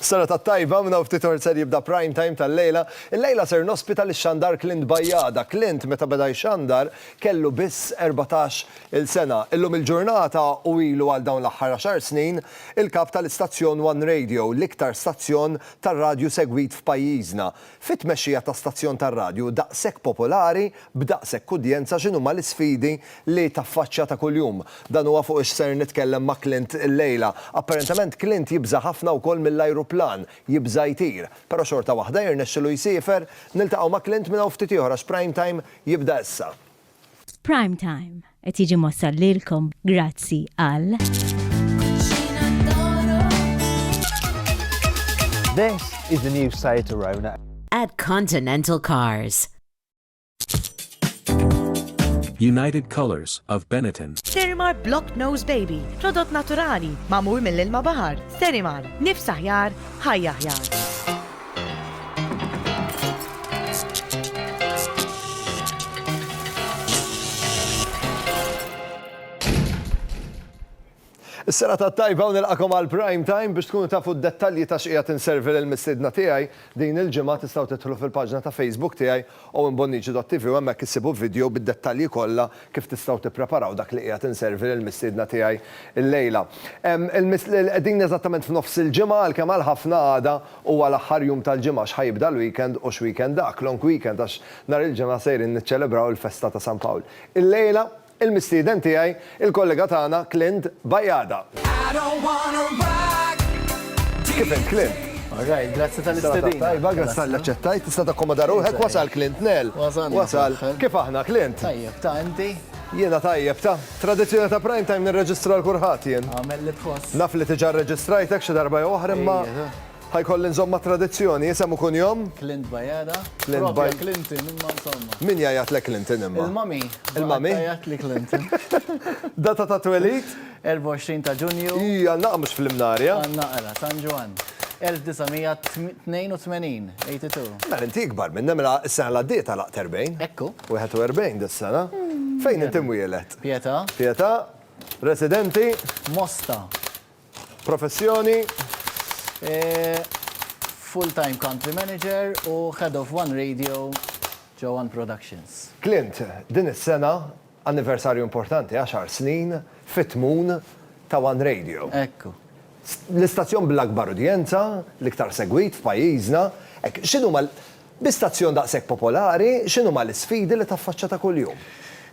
Sena tat-tajba, minn hawn ftit ħor ser jibda Prime Time tal-lejla. Illejla ser nospita lix-xandar Clint Bajada. Clint meta beda jxandar kellu biss erbatax il-sena. Illum il-ġurnata u ilu għal dawn l-aħħar għaxar snin il-kap tal-istazzjon One Radio, l-iktar stazzjon tar-radju segwit f'pajjiżna. Fit-tmexxija ta' stazzjon tar-radju daqshekk popolari, b'daqshekk udjenza x'inhuma l-isfidi li taffaċċja ta' kuljum? Dan huwa fuq x'ser nitkellem ma' Clint illejla. Apparentement Clint jibża' ħafna wkoll mill-ajruplan, jibża' jtir. Però xorta waħda jirnexxilu jsiefer. Niltaqgħu ma' Clint minn hawn ftit ieħor għax Prime Time jibda issa. F'Prime Time qed jiġi mwassal lilkom grazzi għal. This is the new Seat Arona. At Continental Cars. United Colors of Benetton. Sterimar Block Nose Baby, prodott naturali, mamur mill-ilma bahar. Sterimar, nifs aħjar, ħajja aħjar. Is-sena ta' tajba u nilqakom għal Prime Time biex tkunu tafu d-dettalji ta' x'qiegħed inservi lill-mistiedna tiegħi din il-ġimgħa tistgħu tidħlu fil-paġna ta' Facebook tiegħi Owen Bonnici dot TV u hemmhekk issibu video bid-dettalji kollha kif tistgħu tippreparaw dak li qiegħed inservi lil mistiedna tiegħi llejla. Qegħdin eżattament f'nofs il-ġimgħa għalkemm għal ħafna għada huwa l-aħħar jum tal-ġimgħa x'ħa jibda l-weekend u x'weekend dak, long weekend għax nhar il-Ġimgħa sejrin niċċelebraw il-festa ta' San Pawl. Illejla Il-mistieden tiegħi, il-kollega tagħna Clint Bajada. Kif int, Clint? All right, grazzi tal-istedina. Serata tajba, grazzi tal-li aċċettajt. Tista' takkomoda ruħek, wasal Clint Nell. Wasalna. Wasal. Kif aħna, Clint? Tajjeb, ta' inti? Jiena tajjeb, ta'. Tradizzjoni ta' prime time nirreġistra l-kulħadd jien. Agħmel li tħoss. Naf li diġà rreġistrajtek xi darba jew oħra imma. Ħa jkolli nżomm mat-tradizzjoni, isem u kunjom? Clint Bajada. Propja Clinton, imma insomma. Min jgħajatlek Clinton imma? Il-mummy. Il-mummy? Tgħajattli Clinton. Data ta' twelid? 24 ta' Ġunju. Ii, għal naqra mhux fl-Imnarja. Għal naqra, San Ġwann. 1982, 82. Mela inti ikbar minna, mela s-sena li għaddiet għalaqt 40. Ekku. 41 dis-sena. Fejn inti mwieled? Pietà. Pietà. Residenti? Mosta. Professjoni? Full time country manager u head of one radio ġo one productions. Clint, din is-sena anniversarju importanti, għaxar snin fit-tmun ta' one radio. Ekku. L-istazzjon bl-akbar udjenza, l-iktar segwit f'pajjiżna. Hekk, x'inhuma Bi stazzjon daqshekk popolari, x'inhuma l-isfidi li taffaċċa ta' kuljum?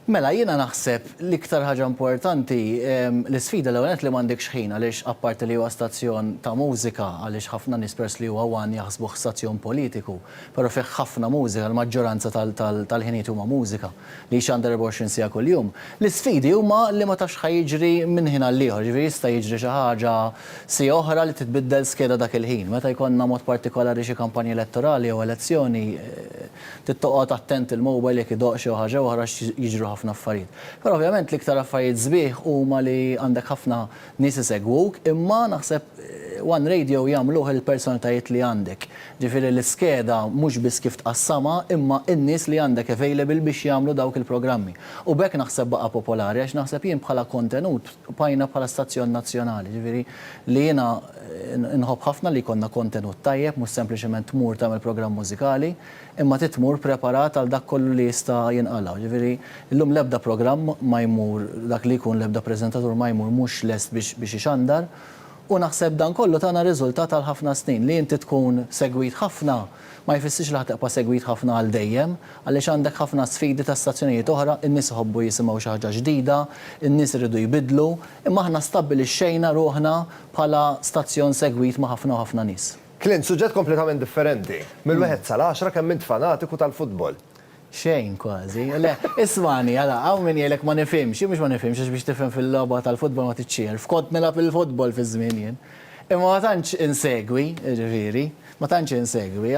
Mela, jiena naħseb l-iktar ħaġa importanti, l-isfida l-ewwel nett li m'għandekx ħin għaliex apparti li huwa stazzjon ta' mużika għaliex ħafna nies peress li huwa one jaħsbuh stazzjon politiku, però fih ħafna mużika, l-maġġoranza tal-ħinijiet huma mużika. li jixxandar 24 siegħa kuljum. L-isfidi huma li ma tafx xa jiġri minn ħin għall-ieħor, jiġifieri jista' jiġri xi ħaġa siegħa oħra li titbiddel skeda dak il-ħin. Meta jkollna mod partikolari xi kampanja elettorali jew elezzjoni trid toqgħod attent il-mobile jekk idoqq xi ħaġa jew oħra għax jiġru ħafna affarijiet. Però ovvjament l-iktar affarijiet sbieħ huma li għandek ħafna nies isegwuk, imma naħseb one radio jagħmluh il-personalitajiet li għandek. Ġifieri l-iskeda mhux biss kif tqassamha, imma n-nies li għandek available biex jagħmlu dawk il-programmi. U b'hekk naħseb baqa' popolari għax naħseb jien bħala kontenut bqajna bħala stazzjon nazzjonali. Ġifieri li jiena nħobb ħafna li jkollna kontenut tajjeb mhux sempliċement tmur tagħmel programm mużikali. Imma trid tmur preparat għal dak kollu li jista' jinqala'. Jiġifieri, illum l-ebda programm ma jmur, dak li jkun, l-ebda preżentatur ma jmur mhux lest biex biex ixandar. U naħseb dan kollu tana riżultat għal ħafna snin. Li inti tkun segwit ħafna ma jfissirx li ħa tibqa' segwit ħafna għal dejjem, għaliex għandek ħafna sfidi ta' stazzjonijiet oħra, in-nies iħobbu jisimgħu xi ħaġa ġdida, in-nies iridu jbiddlu, imma aħna stabbilixxejna ruħna bħala stazzjon segwit ma' ħafna u ħafna nies. Clint, Suġġett kompletament differenti. Mill-wieħed sal-għaxra kemm int fanatiku tal-futbol? Xejn kważi. Le, ismagħni, ara, hawn min jgħidlek ma nifhimx. Jien mhux ma nifhimx għax biex tifhem fil-logħba tal-futbol ma tridx txierf. Kont nilgħab il-futbol fi żmien jien. Imma ma tantx insegwi, jiġifieri, ma tantx insegwi.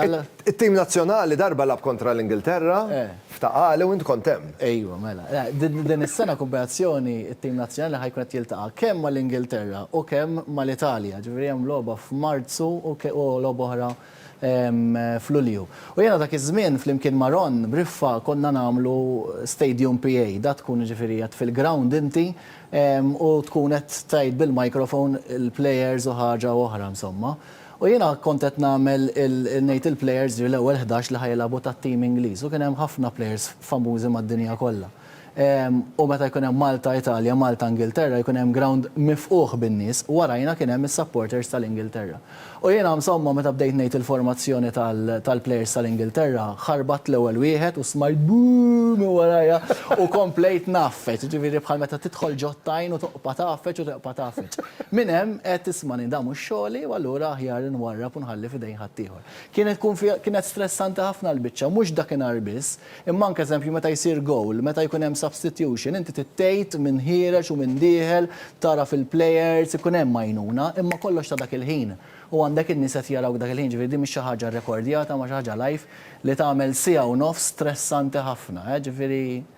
It-tim nazzjonali darba lagħab kontra l-Ingilterra F'ta' Qali u int kont hemm. Ejwa, mela. Din is-sena Kooperazzjoni t-tim nazzjonali ħa jkun qed jiltaqa' kemm mal-Ingilterra u kemm mal-Italja. Ġifieri hemm logħba f'Marzu u logħba oħra f'Lulju. U jiena dak iż-żmien flimkien ma' Ron Briffa konna nagħmlu Stadium PA. Dak tkun jiġifieri qed fil-ground inti u tkun qed tgħid bil-microphone il-players u ħaġa u oħra insomma. U jiena kont qed nagħmel il, ngħid il-plejers ġifieri l-ewwel ħdax li ħa jilagħbu tat-tim Ingliż u kien hemm ħafna plejers famużi mad-dinja kollha. U meta jkun hemm Malta, Italja, Malta, Ingilterra jkun hemm grawnd mifqugħ bin-nies u warajna kien hemm is-supporters tal-Ingilterra. U jiena msomma meta bdejt ngħid il-formazzjoni tal, tal-plejers tal-Ingilterra, ħarbatt l-ewwel wieħed u smajt boo minn warajja u komplejt ngħaffeġ, ġifieri bħal meta tidħol ġo t-tajn u toqpa' tgħaffeġ u teqpa' tgħaffeġ. Minn hemm għedt ismani dan mhux xogħli u allura aħjar inwarrab u nħalli f'idejn ħaddieħor. Kienet tkun fiha kienet stressanti ħafna l-biċċa, mhux dakinhar biss, imma anke eżempju meta jsir gowl, meta jkun hemm substitution, inti trid tgħid min ħiereġ u min dieħel, tagħraf il-players, ikun hemm għajnuna, imma kollox ta' dak il-ħin u għandek in-nies qed jarawk dak il-ħin, ġifieri din mhix xi ħaġa rekordjata ma xi ħaġa live li tagħmel siegħa u nofs stressanti ħafna, ġifieri.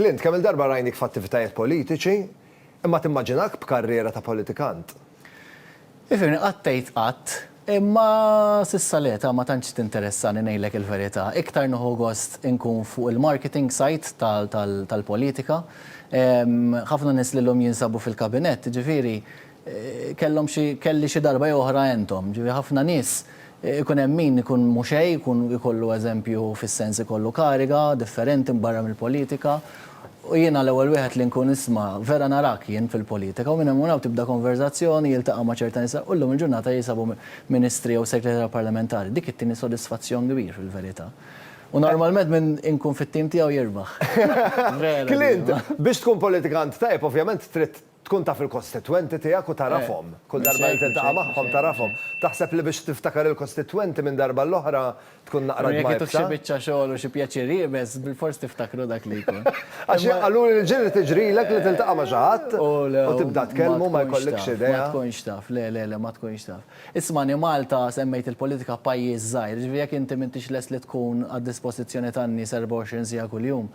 Clint, kemm-il darba rajnik f'attivitajiet politiċi, imma timmaġinak b'karriera ta' politikant? Ifhimni, qatt tgħid qatt, imma s'issa l-eta' ma tantx tinteressani ngħidlek il-verità. Iktar nieħu gost inkun fuq il-marketing side tal-politika. Ħafna nies li llum jinsabu fil-kabinett, jiġifieri, kellhom xi, kelli xi darba jew oħra entom. Ġifieri ħafna nies ikun hemm min ikun mhu xejn, ikun ikollu eżempju fis-sens ikollu kariga differenti mbarra mill-politika u jiena l-ewwel wieħed li nkun isma' vera narak jien fil-politika u minn hemm u hawn tibda konverżazzjoni, jiltaqa' ma' ċerta nisa u llum il-ġurnata jinsabu ministri jew segretarja parlamentari. Dik it-tieni sodisfazzjon kbir fil-verità. U normalment min inkun fit-tim tiegħu jirbaħ. Vera din. Clint, biex tkun politikant tajjeb ovvjament trid Tkun taf il-kostitwenti tiegħek u tagħrafhom. Kull darba li tiltaqa' magħhom tagħrafhom. Taħseb li biex tiftakar il-kostitwenti minn darba għall-oħra tkun naqra dmajbsa? Imma jekk ituk xi biċċa xogħol u xi pjaċir iebes, bilfors tiftakru dak li jkun. Għax jien qaluli li ġieli tiġrilek li tiltaqa' ma' xi ħadd u tibda tkellmu ma jkollikx idea. Ma tkunx taf, le, le, le, ma tkunx taf. Ismagħni, Malta, semmejt il-politika, pajjiż żgħir. Jiġifieri jekk inti m'intix lest li tkun għad-dispożizzjoni tan-nies 24 siegħa kuljum,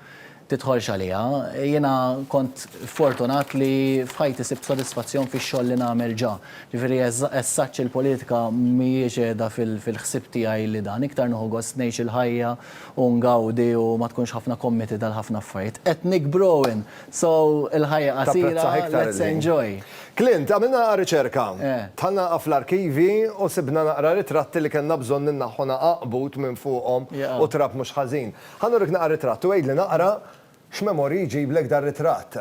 tidħolx għaliha. Jiena kont fortunat li f'ħajti sibt sodisfazzjon fix-xogħol li nagħmel ġa. Ġifieri as-such il-politika mhijiex qiegħda fil-ħsieb tiegħi li dan. Iktar nieħu gost ngħix il-ħajja u ngawdi u ma tkunx ħafna committed għal ħafna affarijiet. Qed nikbr Owen, so il-ħajja qasira, let's enjoy. Clint, għamilna riċerka. Dħalna naqra fl-arkivji u sibna naqra ritratti li kellna bżonn innaħħu naqra qbud minn fuqhom u trab mhux ħażin. Ħa nurik naqra ritratt u għidli naqra x'memorji jġiblek dar-ritratt.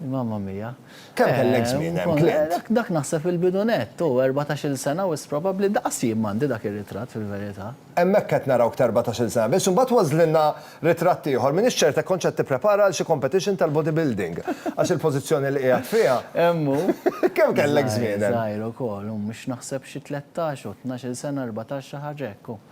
Mamma mia. Kemm kellek żmien hemm, Clint? Dak naħseb il-bidu nett, hu, erbatax-il sena wisq probabbli, daqs jien m'għandi dak ir-ritratt fil-verità. Hemmhekk qed narawk t'erbatax-il sena biss u mbagħad ważżlilna ritratt ieħor, m'iniex ċert hekk kontx qed tipprepara għal xi competition tal-bodybuilding għax il-pożizzjoni li qiegħed fiha. Hemm hu. Kemm kellek żmien hemm? Żgħir ukoll, hu, mhux naħseb xi tlettax u tnax-il sena, erbatax xi ħaġa hekk, hu.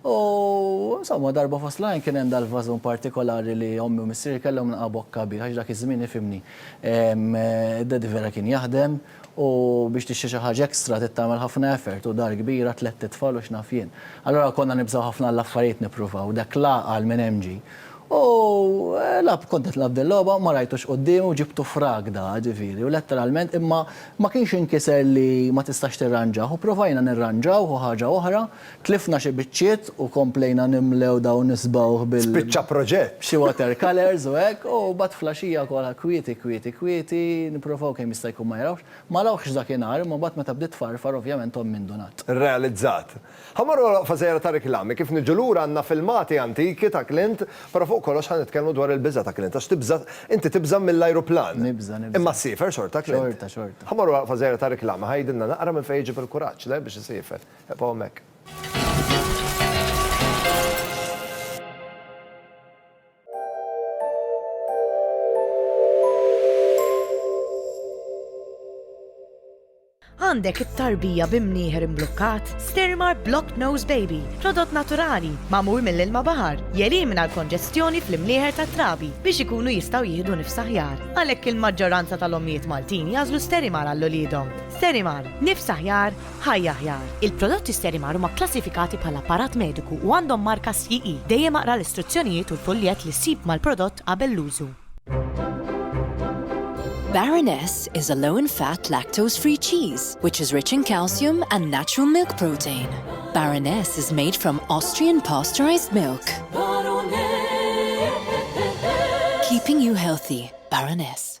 U, insomma, darba fost l-għajn kien hemm dal-vażun partikolari li ommi u missieri kellhom naqgħa bokka bih, għax dak iż-żmien, ifhimni, d-daddy vera kien jaħdem u biex tixtri xi ħaġa extra trid tagħmel ħafna effort u dar kbira, tlett itfal u x'naf jien. Allura konna nibżgħu ħafna għall-affarijiet nippruvaw, dak la qal minn hemm ġie. U, lagħab, kont qed nilgħab dil-logħba, ma rajtux quddiemi u ġibtu f'ragda, ġifieri, u letteralment, imma ma kienx inkiser li ma tistax tirranġah u ppruvajna nirranġawh u ħaġa oħra, Tlifna xi biċċiet u komplejna nimlew dawn is-sbawħ bil. Spiċċa proġett! B'xi water colours u hekk, u mbagħad fl-għaxija kollha kwieti, kwieti, kwieti, nipprovaw kemm jista' jkun ma jarawx. Ma rawhx dakinhar, imma mbagħad meta bdiet tfarfar ovvjament ommi ndunat. Rrealizzat. Ħa mmorru għal waqfa żgħira ta' riklami, kif niġu lura għandna filmati antiki ta' Clint, però fuq kollox ħa nitkellmu dwar il-biża' ta' Clint għax tibża' inti tibża' mill-ajruplan. Nibża', nibża'. Imma ssiefer xorta Clint. Xorta, xorta. Ħa mmorru għal waqfa żgħira ta' riklami, ħa jgħidilna naqra minn fejn iġib il-kuraġġ, le, biex isiefer. Eqfgħu hemmhekk. Għandek it-tarbija bi mnieħer imblukkat? Stirmar Blocked Nose Baby, prodott naturali, mamur mill-ilma baħar, jelimina l-konġestjoni fl-imnieħer ta' trabi biex ikunu jistaw jihdu nifsaħjar. Għalhekk il-maġġoranza tal-ommijiet Maltin jażlu Sterimar għall-ulidhom. Sterimar, nifsaħjar, Ħajja Aħjar, Il-prodotti Sterimar huma kklassifikati bħala apparat mediku u għandhom marka CE. Dejjem aqra l-istruzzjonijiet u l-fuljett li ssib mal-prodott qabel l-użu. Baroness is a low in fat lactose free cheese which is rich in calcium and natural milk protein. Baroness is made from Austrian pasteurized milk. Keeping you healthy, Baroness.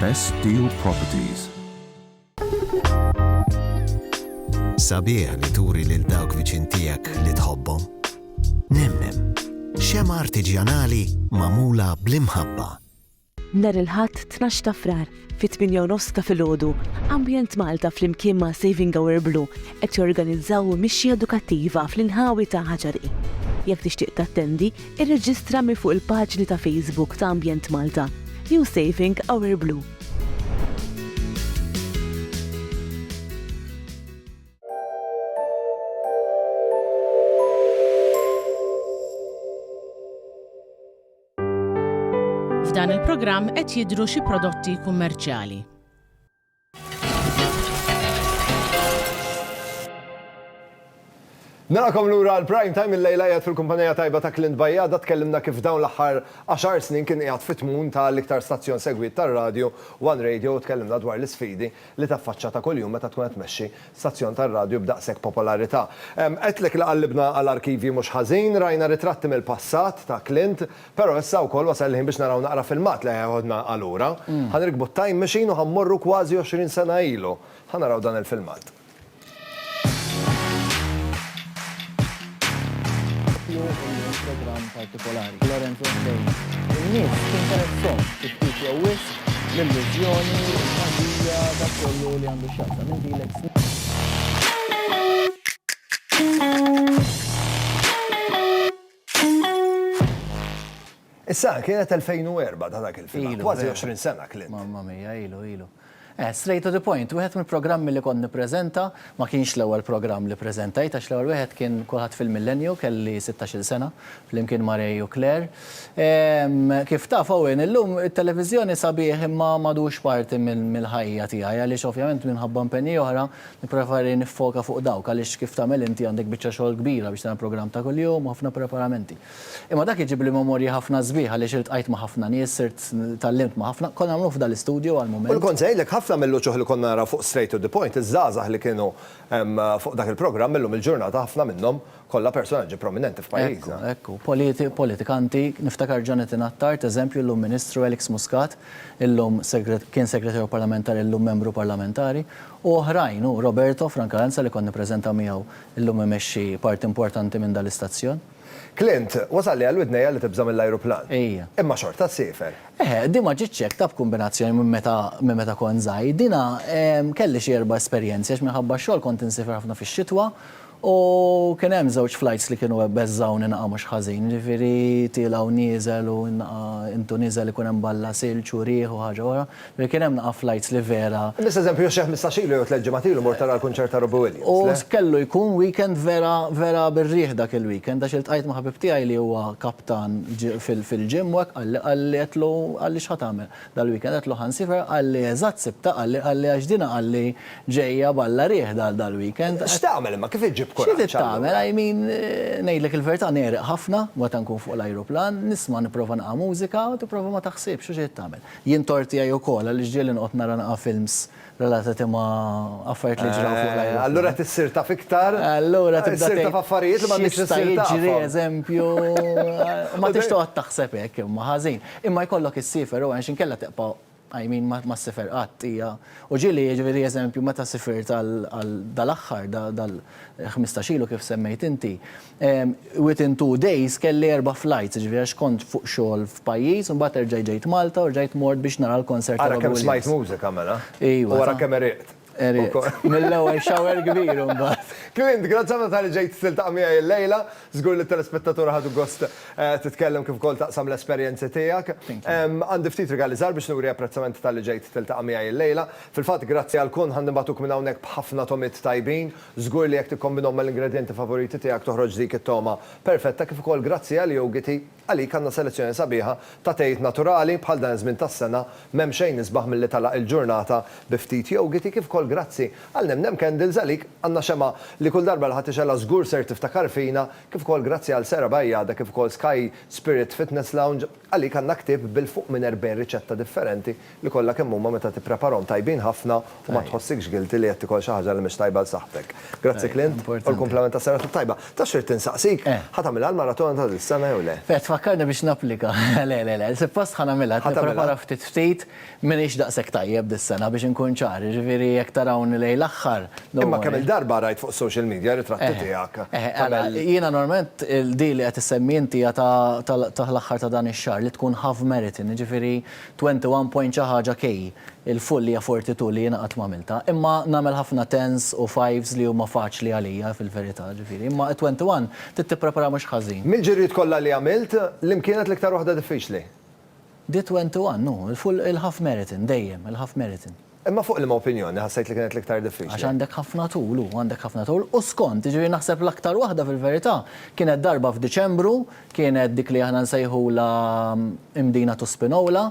Best Deal Properties. Sabiħ li turi lil dawk viċin tiegħek li tħobbhom. Nemmem, xema artiġjanali magħmula bl-imħabba. Nar il-ħadd 12 ta' frar fit-8 nofs ta' filgħodu, Ambjent Malta flimkien ma' Saving Our Blue qed jorganizzaw mixja edukattiva fl-inħawi ta' Ħaġari. Jekk tixtieq tattendi, Irreġistra minn fuq il-paġni ta' Facebook ta' Ambjent Malta jew Saving Our Blue. F'dan il-programm qed jidhru xi prodotti kummerċjali. Nilqakom lura għal Prime Time il-lejla qiegħed fil-kumpanija tajba ta' Clint Bajada tkellimna kif dawn l-aħħar għaxar snin kien qiegħed fit-tmun ta' l-iktar stazzjon segwit tar-radju, One Radio u tkellimna dwar l-isfidi li taffaċċa ta' kuljum meta tkun qed tmexxi stazzjon tar-radju b'daqshekk popolarità. Għedtlek li qallibna għal arkivji mhux ħażin, rajna ritratti mill-passat ta' Clint, Però issa wkoll wasal il-ħin biex naraw naqra filmat li ħajħodna għal ura. Ħa nirkbu t-time machine u ħa mmorru kważi għoxrin sena ilu. Ħa naraw dan il-filmat. Issa, kienet 2004 ta' dak il-film. Kważi 20 sena, Clint. Mamma mia, ilu, ilu. Eh, straight to the point, wieħed mill-programmi li kont nippreżenta, ma kienx l-ewwel programm li ppreżentajt għax l-ewwel wieħed kien Kulħadd fil-Millenju, kelli sittax-il sena, flimkien ma' Ray u Claire. Ehm, kif taf, Owen, illum it-televiżjoni sabiħ imma m'għadux parti mill-ħajja tiegħi għaliex ovvjament minħabba impenji oħra Nippreferi niffoka fuq dawk għaliex kif tagħmel inti għandek biċċa xogħol kbira biex tagħmel programm ta' kuljum u ħafna preparamenti. Imma dak iġibli memorji ħafna sbieħ għaliex iltqajt ma' ħafna nies, sirt, tgħallimt ma' ħafna. Konna nagħmluh f'dan l-istudju għall-mument. U kont se ngħidlek ħafna mill-uċuħ li konna naraw fuq Straight to the Point, iż-żgħażagħ li kienu fuq dak il-programm illum il-ġurnata ħafna minnhom Kollha personaġġi prominenti f'pajjiżna. Ekku, ekku. Politikanti, niftakar Jonathan Attard, eżempju, llum Ministru, Alex Muscat, illum kien Segretarju Parlamentari llum Membru Parlamentari, u oħrajn, u Roberto Frank Aranza li kont nippreżenta miegħu llum imexxi parti importanti minn dan l-istazzjon. Clint, wasalli għal widnejja li tibża' mill-ajruplan. Ejja. Imma xorta ssiefer. Eħe, din ma ġietx hekk, ta' b'kumbinazzjoni minn meta minn meta kont żgħir. Dina, kelli xi erba' esperjenzi għax minħabba x-xogħol kont insiefer ħafna fix-xitwa U kien hemm żewġ flajts li kienu beżżgħuni naqa' mhux ħażin, jiġifieri tiela' u nieżel u naqa' int u niżel ikun hemm balla silġ u riħ u ħaġa oħra. Jiġifieri kien hemm naqa' flajts li vera. Imiss eżempju xi ħmistax ilu jew tliet ġimgħat ilu mort tara l-kunċert ta' Robbie Williams, le? U kellu jkun weekend vera, vera bir-riħ dak il-weekend għax iltqajt ma' ħabib tiegħi li huwa kaptan fil-gym u hekk qalli, qalli għedtlu għaliex ħa tagħmel? Dal-weekend għedt Lohan Sifar qalli eżatt sibtha qalli qalli għax dina qalli ġejja b'Alla riħ dal-weekend. X'tagħmel imma kif iġġib kuraġġ allura? Xi trid tagħmel I mean ngħidlek il-verità negħreq ħafna meta nkun fuq l-ajruplan, nisma' nipprova naqa' mużika u tipprova ma taħsibx u xi trid tagħmel. Jien tort tiegħi wkoll għaliex ġieli noqgħod nara naqa' films relatati ma' affarijiet li ġraw fuq l-ajruplan. Allura tissir taf iktar. Allura tibda. Tissir taf affarijiet li ma tridx issir taf. Jiġri eżempju. Ma tridx toqgħod taħseb hekk imma ħażin. Imma jkollok issifer u għax inkella tibqa' I mean ma ssifer qatt hija. U ġieli jiġifieri eżempju meta sifirt għal dal-aħħar dal-ħmistax ilu kif semmejt inti, Within two days kelli erba' flights, jiġifieri għax kont fuq xogħol f'pajjiż, imbagħad erġajt ġejt Malta u rġajt mort biex nara l-concert ta' Robbie Williams. Ara kemm smajt mużika mela. Iva. U ara kemm għeriqt. Għeriqt. Mill-ewwel shower kbir imbagħad. Clint, grazzi ħafna talli ġejt tiltaqa' miegħi illejla. Żgur li t-telespettaturi ħadu gost titkellem kif ukoll taqsam l-esperjenzi tiegħek. Għandi ftit rigali żgħar biex nuri apprezzament talli ġejt tiltaqa' miegħi illejla. Fil-fatt, grazzi għal kun, ħa nibagħtuk minn hawnhekk b'ħafna tomiet tajbin. Żgur li jekk tikkombinhom mal-ingredjenti favoriti tiegħek toħroġ dik it-togħma perfetta kif ukoll grazzi għal Yougity, għalik għandna selezzjoni sabiħa ta' tejjiet naturali, bħal dan iż-żmien tas-sena m'hemm xejn isbaħ milli tagħlaq il-ġurnata bi ftit Yougity kif ukoll grazzi għal Nemnem Candles għalik għandna xemgħa li kull darba li ħa tixgħelha żgur ser tiftakar fina kif ukoll grazzi għal Sarah Bajada kif ukoll Sky Spirit Fitness Lounge għalik għandna ktieb bil fuq minn 40 riċetta differenti li kollha kemm huma meta tippreparhom tajbin ħafna u ma tħossikx guilty li qed tikol xi ħaġa li mhix tajba għal saħħtek. Grazzi Clint u l-kumplament ta' Serata t-Tajba. Tafx ridt insaqsik? Ħa tagħmilha l-maratona ta' dis-sena jew le? Qed tfakkarni biex napplika. Le, le, le, suppost ħa nagħmilha, qed nipprepara ftit ftit, m'iniex daqshekk tajjeb dis-sena biex inkun ċar, jiġifieri jekk tarawni lejn l-aħħar, don't worry. Imma kemm-il darba rajt fuq is-social media ritratti tiegħek. Jiena normalment din li qed issemmi inti hija ta' l-aħħar ta' dan ix-xahar li tkun half marathon, jiġifieri 21 point xi ħaġa key il full hija 42 li jiena qatt ma għamiltha. Imma nagħmel ħafna tens u fives li huma faċli għalija fil-verità, ġifieri. Imma 21 trid tippreparaha mhux ħażin. Mill-ġirjiet kollha li għamilt, liem kienet l-iktar waħda diffiċli? Di 21, hu, il-full, il-half marathon, dejjem, il-half marathon. Imma fuq liema opinjoni ħassejt li kienet l-iktar diffiċli? Għax għandek ħafna tul, u għandek ħafna tul, u skont, jiġifieri naħseb l-aktar waħda fil-verità kienet darba f'Diċembru, kienet dik li aħna nsejħulha Imdina to Spinola,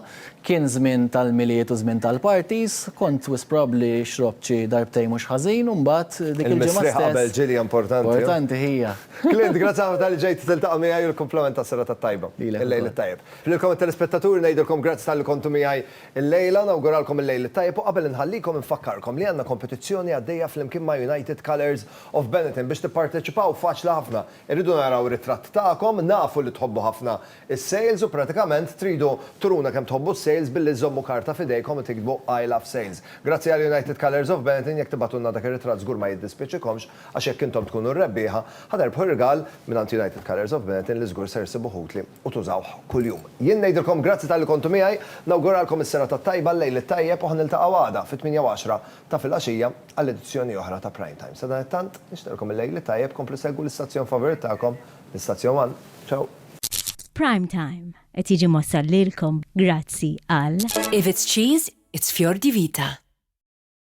kien żmien tal-Milied u żmien tal-parties, kont wisq probabbli xrobt xi darbtejn mhux ħażin u mbagħad dik il-ġimgħa stess. Il-misriħ qabel ġilja importanti. Importanti hija. Clint, grazzi ħafna talli ġejt tiltaqa' miegħi u l-kumplament tas-serata t-tajba. Lilek ukoll. Il-lejl it-tajjeb. Lilkom it-telespettaturi ngħidilkom grazzi talli kontu miegħi. Illejla nawguralkom il-Lejl it-Tajjeb u qabel inħallikom infakkarkom li għandna kompetizzjoni għaddejja flimkien ma' United Colours of Benetton. Biex tipparteċipaw faċli ħafna. Irridu naraw ritratt tagħkom, nafu li tħobbu ħafna is-sales u pratikament tridu turuna kemm tħobbu s-sales billi żżommu karta f'idejkom u tiktbu I love sales. Grazzi għal United Colours of Benetton jekk tibgħatulna dak ir-ritratt żgur ma jiddispjaċikomx Għax jekk intom tkunu r-rebbieħa, ħa terbħu irgal mingħand United Colours of Benetton li żgur ser issibuh utli u tużawh kuljum. Jien ngħidilkom grazzi talli kontu miegħi, nawguralkom is-serata t-tajba, l-lejl it-tajjeb u ħa niltaqgħu għada fit-tmienja u għaxra ta' filgħaxija għal edizzjoni oħra ta' Prime Time. Sadanittant, nixtieqilkom il-lejl it-tajjeb, komplu segwu l-istazzjon favurit tagħkom, l-Istazzjon One. Ciao! Prime Time qed jiġi mwassal lilkom grazzi għal. If it's cheese, it's fior di vita.